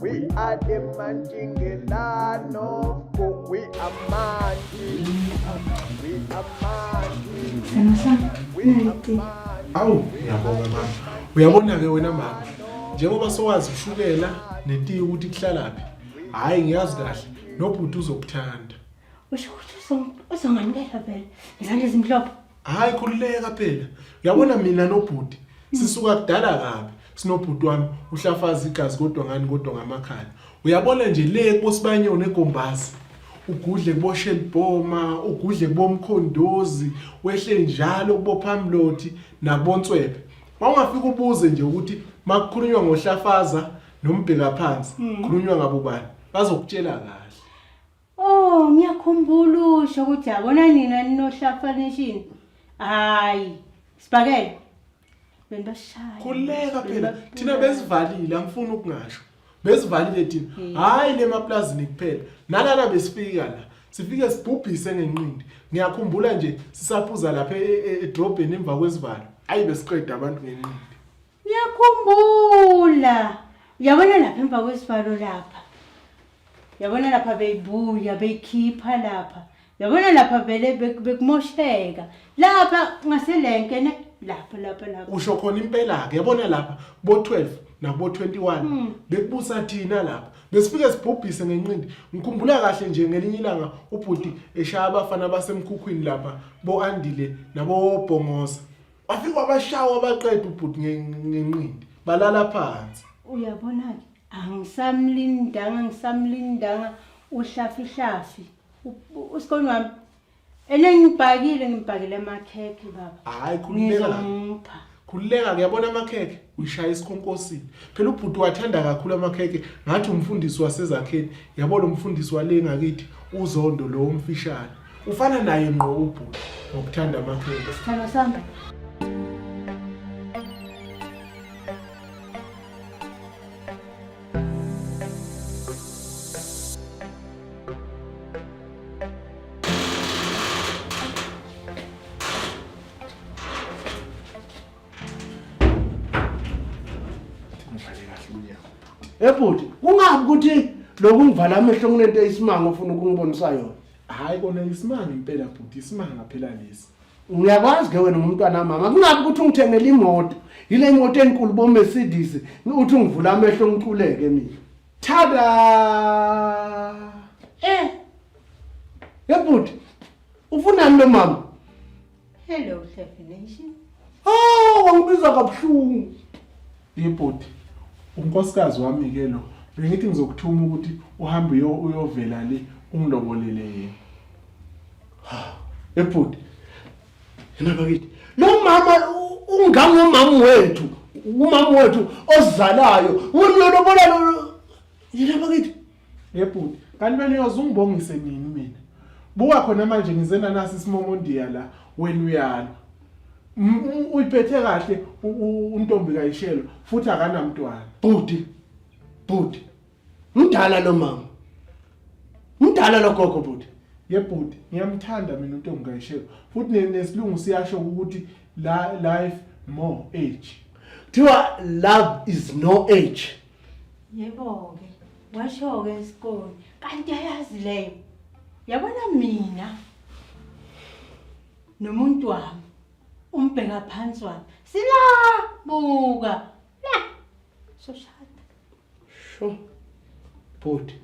We are the Manjingelano. We are Manji. We are Manji. We are Manji. Awu, ngiyabonga mama. Uyabona ke wena mama. Njengoba sowazi ushukela netiye ukuthi kuhlalaphi. Hayi ngiyazi kahle. Nobhuti uzokuthanda. Usho ukuthi uzongamukela vele. Izandla ezimhlophe. hayi khululeka phela uyabona mina nobhuti sisuka kudala kabi sinobhuti wami uhlafaza igazi kodwa ngani kodwa ngamakhala uyabona nje le kosibanyoni egombazi ugudle kuboshelibhoma ugudle kubomkhondozi wehle njalo kubophamlothi nabonswebe wawungafika ubuze nje ukuthi makukhulunywa ngohlafaza nombheka phansi khulunywa ngabo bani bazokutshela kahle Oh, ngiyakhumbula usho ukuthi yabona nina ninohlafanishini. Hayi, sibakele. Benibashaya. Khuleka phela thina besivalile angifuni ukungasho. Besivalile thina. Hmm. Hayi le maplazini kuphela. Nalana besifika la. Sifike sibhubhise ngenqindi. Ngiyakhumbula nje sisaphuza lapha e- e- edrobheni emva kwesivalo. Hayi besiqeda abantu ngenqindi. Ngiyakhumbula. Uyabona lapha emva kwesivalo lapha. Uyabona lapha beyibuya beyikhipha lapha. Uyabona lapha vele bek- bekumosheka. Lapha ngaselenke ne lapha lapha lapha. usho khona impela-ke yabona lapha bo-12 nabo-21 Mm. bekubusa thina lapha besifike sibhubhise ngenqindi ngikhumbula kahle nje ngelinye ilanga ubhuti eshaya abafana basemkhukhwini lapha bo-andile nabobhongoza wafika wabashawa abaqeda ubhuti ngenqindi balala phansi uyabona-ke angisamlindanga ngisamlindanga uhlafihlafi usikoni wami ene ngibhakile ngibhakile amakhekhe baba hayi khululeka khululeka ngiyabona amakhekhe uyishaya isikhonkosini phela ubhuti wathanda kakhulu amakhekhe ngathi umfundisi wasezakheni yabo lo mfundisi wale ngakithi uzondo lo umfishane ufana naye ngqo ubhuti ngokuthanda amakhulu sithando sami ebhuti ungabi ukuthi loku ngivala amehlo kunento eyisimanga ofuna ukungibonisa yona Hayi kona isimanga impela bhuti isimanga phela lesi. Ngiyakwazi ke wena ngumntwana mama kungabe ukuthi ungithengele imoto yile imoto enkulu bo Mercedes uthi ungivula amehlo ngiculeke mina. Tada! Eh. Yebhuti ufunani lo mama? Hello Hlefi Nation. Oh, wangibiza kabuhlungu. Yebhuti, unkosikazi wami ke lo. Bengithi ngizokuthuma ukuthi uhambe uyo- uyovela le ungilobolele yena. ebhuti yena bakithi lo mama u- ungangomama wethu umama wethu ozalayo ngilolobola yena bakithi Yebhuti, kanti wena uyoze ungibongise nini mina? Buka khona manje ngize nanasi isimomondiya la wena uyalwa. M- u- Uyiphethe kahle u- u- untombi kayishelo futhi akanamntwana. Bhuti, bhuti, mdala lo mama. Mdala lo gogo bhuti. Yebhuti, ngiyamthanda mina untombi kayishelo futhi ne- nesilungu siyasho ukuthi la life more age. Kuthiwa love is no age. Yebo-ke, washo-ke isikole. Kanti ayazi leyo. Yabona mina nomuntu wami umbheka phansi wami. Sila buka. La. Soshada. Sho. Bhuti.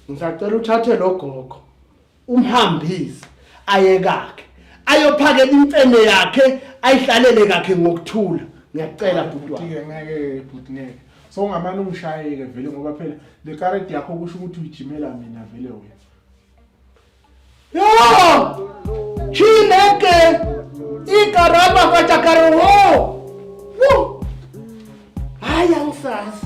Ngisacela uthathe lo gogo. umhambise ayekakhe ayophakela imfene yakhe ayihlalele kakhe ngokuthula ngiyacela bhuti wami Bhuti-ke ngeke bhuti ngeke so ungamane ungishayeke vele ngoba phela le karedi yakho kusho ukuthi uyijimela mina vele wena yo chineke ikarama kajakaro wo wo hayi angisazi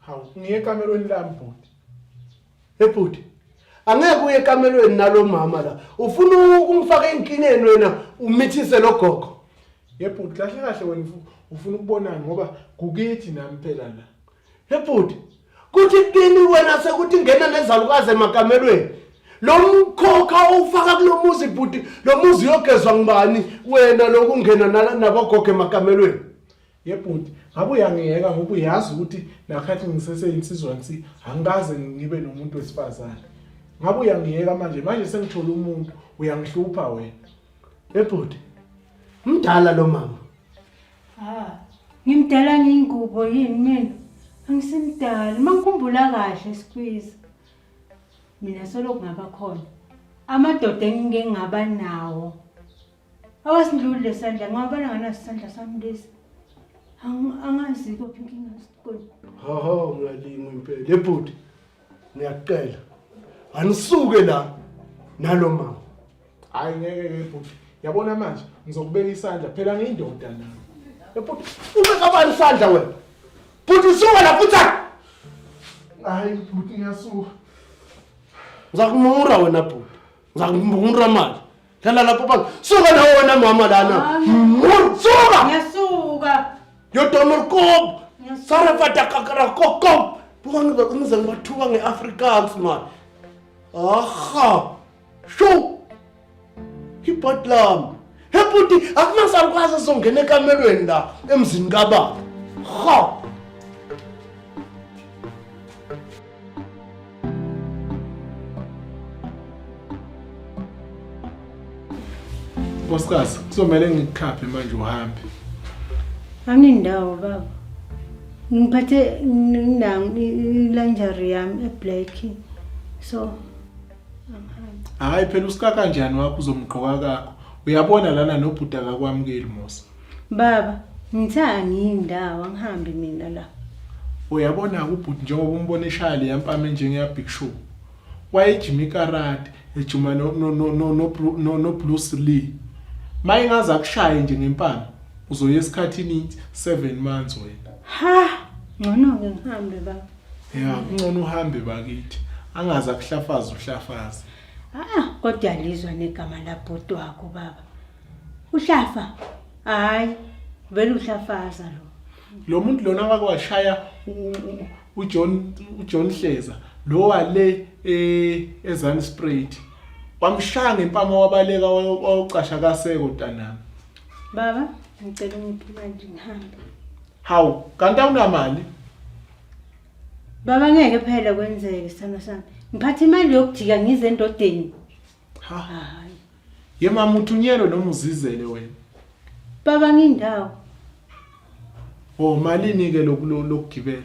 Hawu, ngiye ekamelweni lami bhuti. Hey bhuti, angeke uye ekamelweni nalo mama la. Ufuna u- ungifake enkingeni wena umithise lo gogo. Ye bhuti, kahle kahle wena ufu- ufuna ukubonani ngoba kukithi nami phela la. Hey bhuti, kuthi kini wena sekuthi ngena nezalukazi emakamelweni. Lo mkhokha owufaka kulo muzi bhuti, lo muzi uyogezwa ngubani wena lokungena nala- nabogogo emakamelweni? Yebhuti, ngabe uyangiyeka ngoba uyazi ukuthi nakhathi ngiseseyinsizwa nsi angikaze ngibe nomuntu wesifazane. Ngabe uyangiyeka manje, manje sengithola umuntu uyangihlupha wena. Yebhuti, mdala lo mama. Ha, ngimdala ngiyingubo yini mina? Angisimdala, mangikhumbula kahle squeeze. Mina solo kungaba khona amadoda engingengaba nawo awasindlulile sandla ngawabona nganasisandla sami lesi angazi kuphi inkinga sikoni hoho ngiyalinga impela lebhuti ngiyacela anisuke la nalo mama hayi ngeke ke bhuti yabona manje ngizokubeka isandla phela ngiyindoda na ebhuti ube kabani isandla wena bhuti suka la futhi hayi bhuti ngiyasuka ngizakumura wena bhuti ngizakumura manje Lala lapho baba. Suka na wona mama lana. Suka. Ngiyasuka. Yo domo kob. Sara fata kakara kokob. Buka ngiba kunze ngibathuka ngeAfrikaans man. Aha. Sho. Ibotlam. Hebuti akumasarukwazi songena ekamelweni la emzini kababa. Ha. Nkosikazi, kuzomele ngikukhaphe manje uhambe. Angindawo baba. Ngiphathe nginangu ilanjari yami eblack. So Hayi phela usika kanjani wakho uzomgqoka kakho. Uyabona lana nobhuti akakwamukeli Musa. Baba, ngithe angiyi ndawo angihambi mina la. Uyabona ubhuti njengoba umbona eshaya leya mpama enjengeya Big Show. Wayejima ikarate, ejima no no no no no Bru- no no Bruce Lee. Mayingaze akushaye nje ngempama, uzoya esikhathini 7 months wena. Ha! Ngcono-ke ngihambe baba. Ya, kungcono uhambe bakithi. Angaze akuhlafaze uhlafaze. Ah, kodwa lizwa negama labhuti wakho baba. uhlafa hayi vele uhlafaza lo lo muntu lona wake washaya ujohn ujohn hleza lo wale eh, ezan sprayed wamshaya ngempama wabaleka wawucasha kaseko ntanami baba ngicela ungiphi manje ngihambe hawu kanti awunamali baba ngeke phela kwenzeke sithando sami ngiphatha imali yokujika ngize endodeni Ha. Hayi. Ye mama uthunyelwe noma uzizele wena. Baba ngindawo. Oh malini ke loku- lo- lokugibela?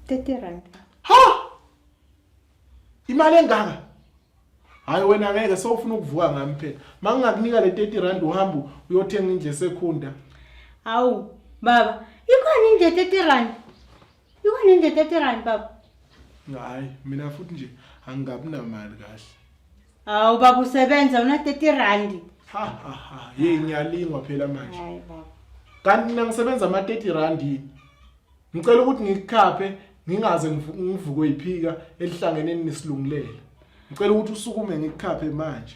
30 rand. Ha! Imali engaka? Hayi wena ngeke sewufuna ukuvuka ngami phela. Mangingakunika le 30 rand uhamba uyothenga indle sekhunda. Hawu baba, ikhona indle 30 rand. Iwe nende 30 rand baba. Hayi, mina futhi nje angabi namali kahle. Hawu baba usebenza una 30 rand. Ha ha ha, hey ngiyalingwa phela manje. Hayi baba. Kanti mina ngisebenza ama 30 rand yini? Ngicela ukuthi ngikukhaphe ngingaze ngivu- ngivukwe yiphika elihlangeneni nesilungulela. Ngicela ukuthi usukume ngikukhaphe manje.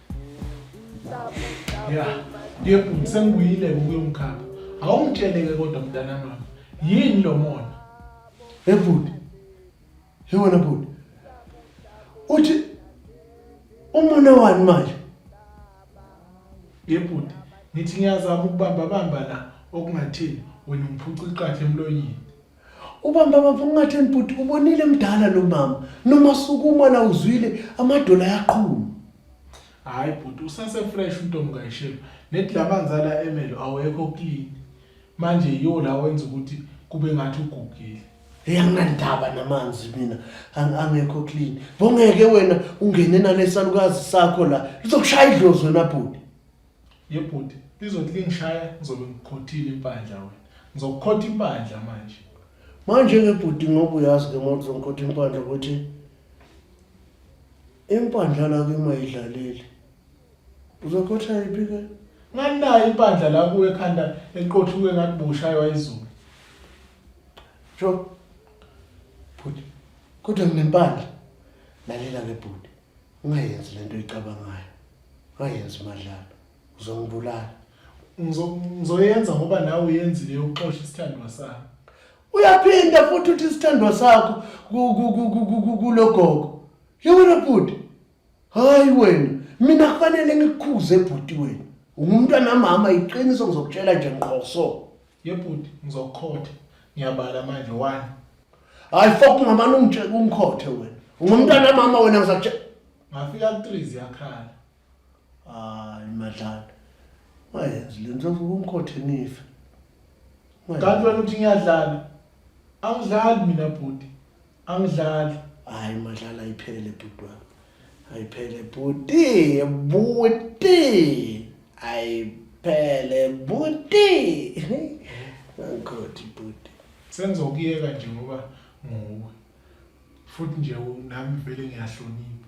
ya ngiyephuma sengibuyile-ke ukuyomkhapha awungitshele-ke kodwa mntana mama yini lo mona Hey bhuti. Hey wena bhuti. Uthi umona wani manje? Yebhuti, ngithi ngiyazama ukubamba bamba la okungathini wena ngiphuca iqathe emlonyeni. Ubamba baba ungatheni bhuti ubonile mdala lo mama noma sukuma la uzwile amadola yaqhuma. Hayi bhuti usase fresh untombi kayishelo nethi lamanzala emelo awekho clean. Manje yiwo la wenza ukuthi kube ngathi ugugile. Hey anginandaba namanzi mina ang- angekho clean. Bongeke wena ungene nalesalukazi sakho la lizokushaya idlozi wena bhuti. Ye bhuti lizothi lingishaya ngizobe ngikhothile impandla wena. Ngizokukhotha impandla manje. Manje ke bhuti ngoba uyazi ke uma uzongikhotha impandla ukuthi impandla la kuma idlalile. Uzokhotha yiphi ke? Nganayo impandla la kuwe ekhanda eqothuke ngathi bushaywa izulu. Sho. Bhuti kodwa nginempandla. Lalela ke bhuti. ungayenzi lento oyicabangayo ungayenzi madlalo uzongibulala ngizoyenza ngoba nawe uyenzile yokuxosha isithandwa sakho uyaphinda futhi uthi isithandwa sakho kulogogo yewena bhuti hayi wena mina kufanele ngikukhuze bhuti wena ungumntwana mama iqiniso ngizokutshela nje ngqoso Yebhuti ngizokukhotha. Ngiyabala manje one. Hayi fuck ngamane ungitshe ungikhothe wena. Ungumntana mama wena ngizakutshe. Ngafika ku 3 ziyakhala. Hayi madlana. Wayenzi lento ungikhothe nife. Kanti wena uthi ngiyadlala. Angidlali mina bhuti. Angidlali. Hayi madlala ayiphele bhuti wami. Ayiphele bhuti, bhuti. Ayiphele bhuti. Ngikhothi bhuti. Sengizokuyeka nje ngoba nguwe. Futhi nje nami vele ngiyahlonipha.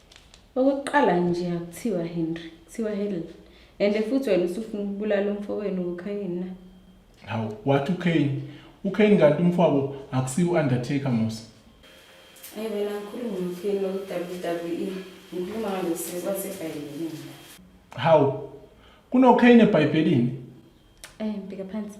Okokuqala nje akuthiwa Henry, kuthiwa Helen. And futhi wena usufuna ukubulala umfowenu uKhayini na? Hawu, wathi uKhayini. UKhayini kanti umfowabo akusiyo u-Undertaker mos. Ayi wena ngikhuluma ngoKhayini loku-WWE. Ngikhuluma ngalo sisi wasebhayibhelini. Hawu, kunoKhayini eBhayibhelini? Eh, mbheka phansi.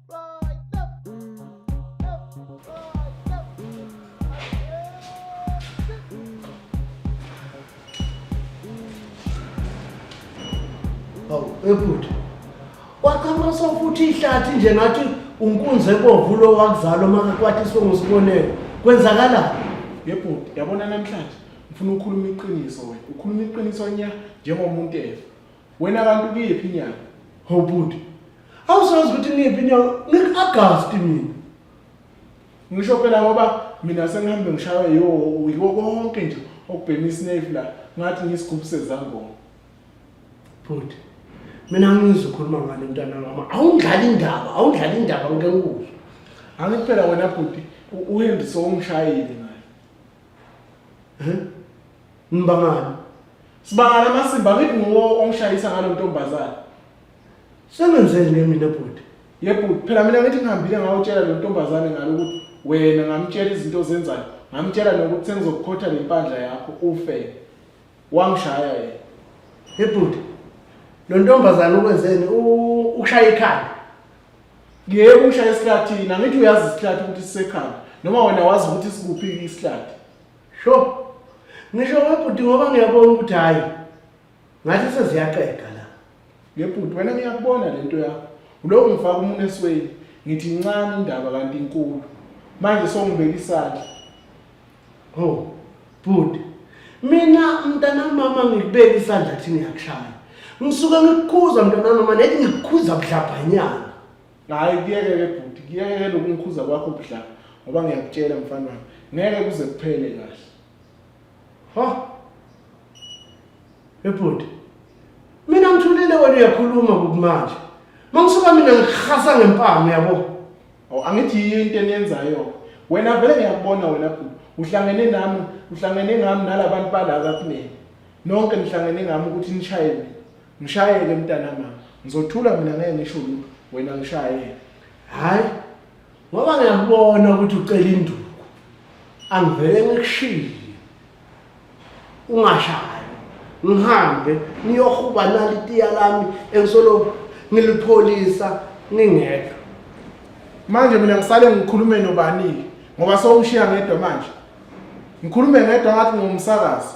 ebhuti waqhamula sofuthi ihlathi nje ngathi unkunzi ebomvu lo wakuzalo makakwathi songusikonelo kwenzakala yebhuti yabona namhlanje ngifuna ukukhuluma iqiniso wena ukhuluma iqiniso nya njengomuntu efa Wena kanti ukuyiphi inyanga? Hawu bhuti. Awusazi ukuthi ngiyiphi inyanga? Ngi-August mina. Ngisho phela ngoba mina sengihambe ngishaywe yiwo yiwo konke nje okubhema isnave la ngathi ngisigubhu sezangoma. Bhuti. Mina ngizwe ukhuluma ngale mntana mama. Awundlali indaba, awundlali indaba ngeke ngikuzwe. Angithi phela wena bhuti uHenry sowungishayile naye. Heh? Ngibangani? Sibangala amasimba ngithi nguwo ongishayisa ngalo ntombazane. Sengenzeni ke mina bhuti? Yebo phela mina ngithi ngihambile ngawutshela lo ntombazane ngalo ukuthi wena ngamtshela izinto ozenzayo, ngamtshela nokuthi sengizokukhotha nempandla yakho ufe. Wangishaya yena. Yebhuti. Lo ntombazane ukwenzeni? U- Ukushaya ikhanda. Yebo ungishaya esihlathini, angithi uyazi isihlathi ukuthi sisekhanda noma wena wazi ukuthi sikuphi isihlathi. Sho. Ngisho webhuti ngoba ngiyabona ukuthi hayi ngathi seziyaqeda la. Ngebhuti wena ngiyakubona lento yakho. Uloku ngifaka umuntu esweni. Ngithi incane indaba kanti inkulu. Manje songibeka isandla. Ho. Bhuti. Mina mntana mama ngikubeka isandla thini yakushaya. Ngisuke ngikukhuza mntana mama nethi ngikukhuza budlabhanyana. Hayi kuyeke ke bhuti, kuyeke ke lokumkhuza kwakho bhla ngoba ngiyakutshela mfana wami. Ngeke kuze kuphele kahle. Ha? Ebhuti. Mina ngithulile wena uyakhuluma kumanje. Mangisuka mina ngihasa ngempama uyabo. Awu angithi yiyo into eniyenzayo. Wena vele ngiyakubona wena bhuti. Uhlangene nami, uhlangene ngami nalabantu bala kakunene. Nonke nihlangene ngami ukuthi nishayele. Ngishayele mntana mama. Ngizothula mina ngeke ngisho lutho. Wena ngishayele. Hayi. Ngoba ngiyakubona ukuthi ucela induku. Angivele ngikushiye. Ungashayi. Ngihambe niyohuba nali tiya lami engisolo ngilipholisa ningedwa. Manje mina ngisale ngikhulume nobani ngoba sewungishiya ngedwa manje. Ngikhulume ngedwa ngathi ngumsakazi.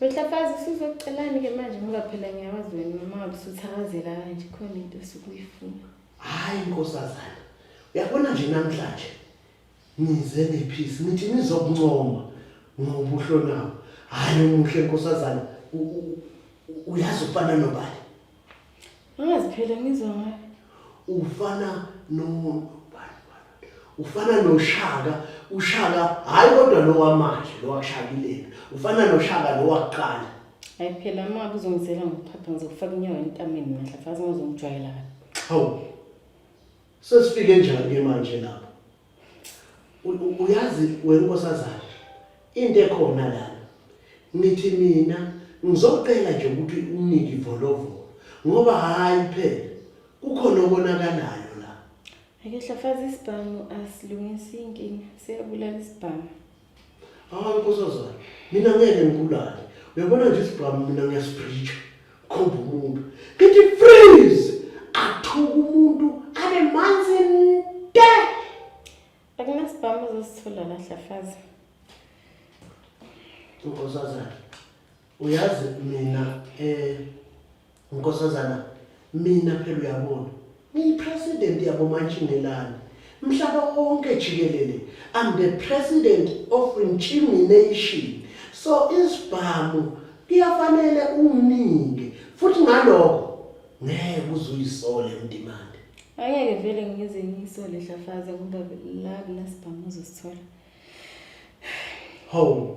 Wehlafazi usuzokucelani ke manje ngoba phela ngiyawazi wena noma ngabe usuthakazela kanje khona into osukuyifuna. Hayi nkosazana. Uyabona nje namhlanje nize nephisi nithi nizokuncoma ngobuhlo nawo. Hayi umuhle nkosazana uyazi ufana nobani. Angazi phela ngizwa ngayo. Ufana no ufana noshaka ushaka hayi kodwa lo wamanje lo washakileni ufana noshaka lo waqala hayi phela uma kuzongizela ngokuphapha ngizokufaka inyawo entameni manje fazi ngizongijwayela kabi hawu Sesifike njani ke manje lapho? U- Uyazi wena nkosazana into ekhona lana. Ngithi mina ngizocela nje ukuthi unike ivolovolo ngoba hayi phela kukhona okonakalayo la. Ake hlafaza isibhamu asilungisa inkinga. Siyabulala isibhamu. Hawu nkosazana, mina ngeke ngibulale. Uyabona nje isibhamu mina ngiyasibhritsha. Khomba umuntu. Ngithi freeze! Athuka umuntu abe manzi nte! Akunasibhamu uzosithola la Hlafaza. Nkosazana, Uyazi mina eh nkosazana mina phela uyabona ngiyipresident yabomantshingelane mhlaba wonke jikelele I'm the president of Nchimi Nation so isibhamu kuyafanele unginike futhi ngalokho ngeke uzuyisole emdimande angeke vele ngize ngiyisole dlafaza ngoba la kunasibhamu uzosithola ho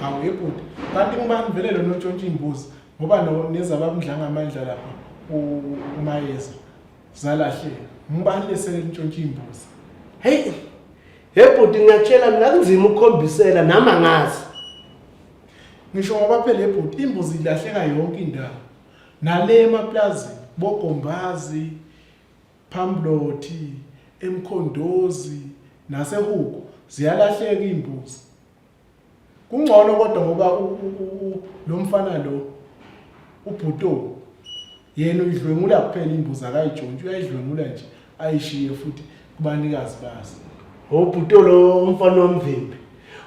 Hawu yebhuti, kanti ngubani vele lona otshontsha imbuzi ngoba no nezabamdlanga amandla lapha umayeza zalahleka. Ngubani lesele ntshontsha imbuzi? Hey! Hey bhuti ngiyakutshela mina kunzima ukukhombisela nami angazi. Ngisho ngoba phela ebhuti imbuzi ilahleka yonke indawo. Nale emaplazi bogombazi phamblothi emkhondozi nasehuku ziyalahleka imbuzi. Kungcono kodwa ngoba lo mfana lo ubhuto yena uyidlwengula kuphela imbuzi akayijontshi uyayidlwengula nje ayishiye futhi kubanikazi bazo. Oh bhuto lo mfana wamvimbi.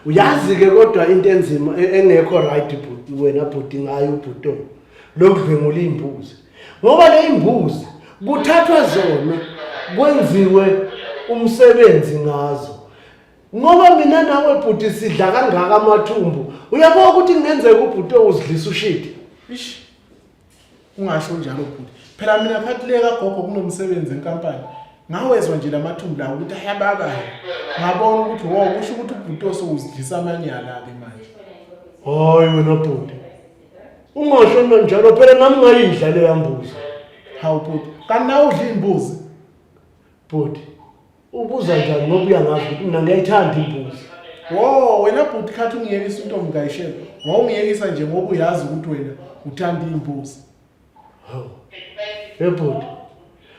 Uyazi ke kodwa into enzima e-, engekho right bhuti wena bhuti ngayo ubhuto lokudlwengula imbuzi. Ngoba le imbuzi kuthathwa zona kwenziwe umsebenzi ngazo Ngoba mina nawe bhuti sidla kangaka amathumbu. Uyabona ukuthi kungenzeka ubhuti owuzidlisa ushidi. Ish. Ungasho njalo bhuti. Phela mina phathi le kagogo kunomsebenzi enkampani. Ngawezwa nje lamathumbu lawo ukuthi ayababa. Ngabona ukuthi wo kusho ukuthi ubhuti osowuzidlisa amanyala ke manje. Hayi wena bhuti. Ungasho nto njalo phela nami ngayidla le yambuzi. Hawu bhuti. Kanti nawe udla imbuzi. Bhuti. Ubuza njani ngoba uyangazi ukuthi mina ngiyayithanda imbuzi. Wo wena bhuti khathi ungiyekisa intombi kayishela. Wawungiyekisa nje ngoba uyazi ukuthi wena uthanda imbuzi. Hawu. Hey bhuti.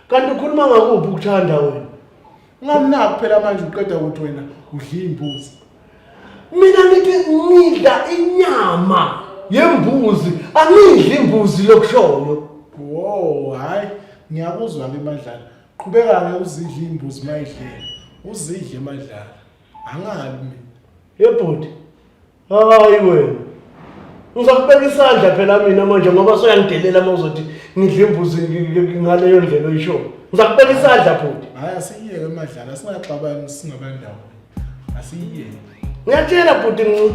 Kanti ukhuluma ngakuphi ukuthanda wena? Ungamnaki phela manje uqeda ukuthi wena udla imbuzi. Mina ngithi ngidla inyama yembuzi, angidli imbuzi lokushoyo. Wo hayi ngiyakuzwa ke madlala. Qhubeka-ke uzidle imbuzi mayidlela. Uzidle madlala. Angabi mina. Yebhuti. Hayi wena. Ngizokubeka isandla phela mina manje ngoba soyangidelela uma uzothi ngidle imbuzi ngaleyo ndlela oyishoyo. Ngizakubeka isandla bhuti. Hayi asiyeke madlala singaxabani singabandawo. Asiyeke. Ngiyatshela bhuti nci.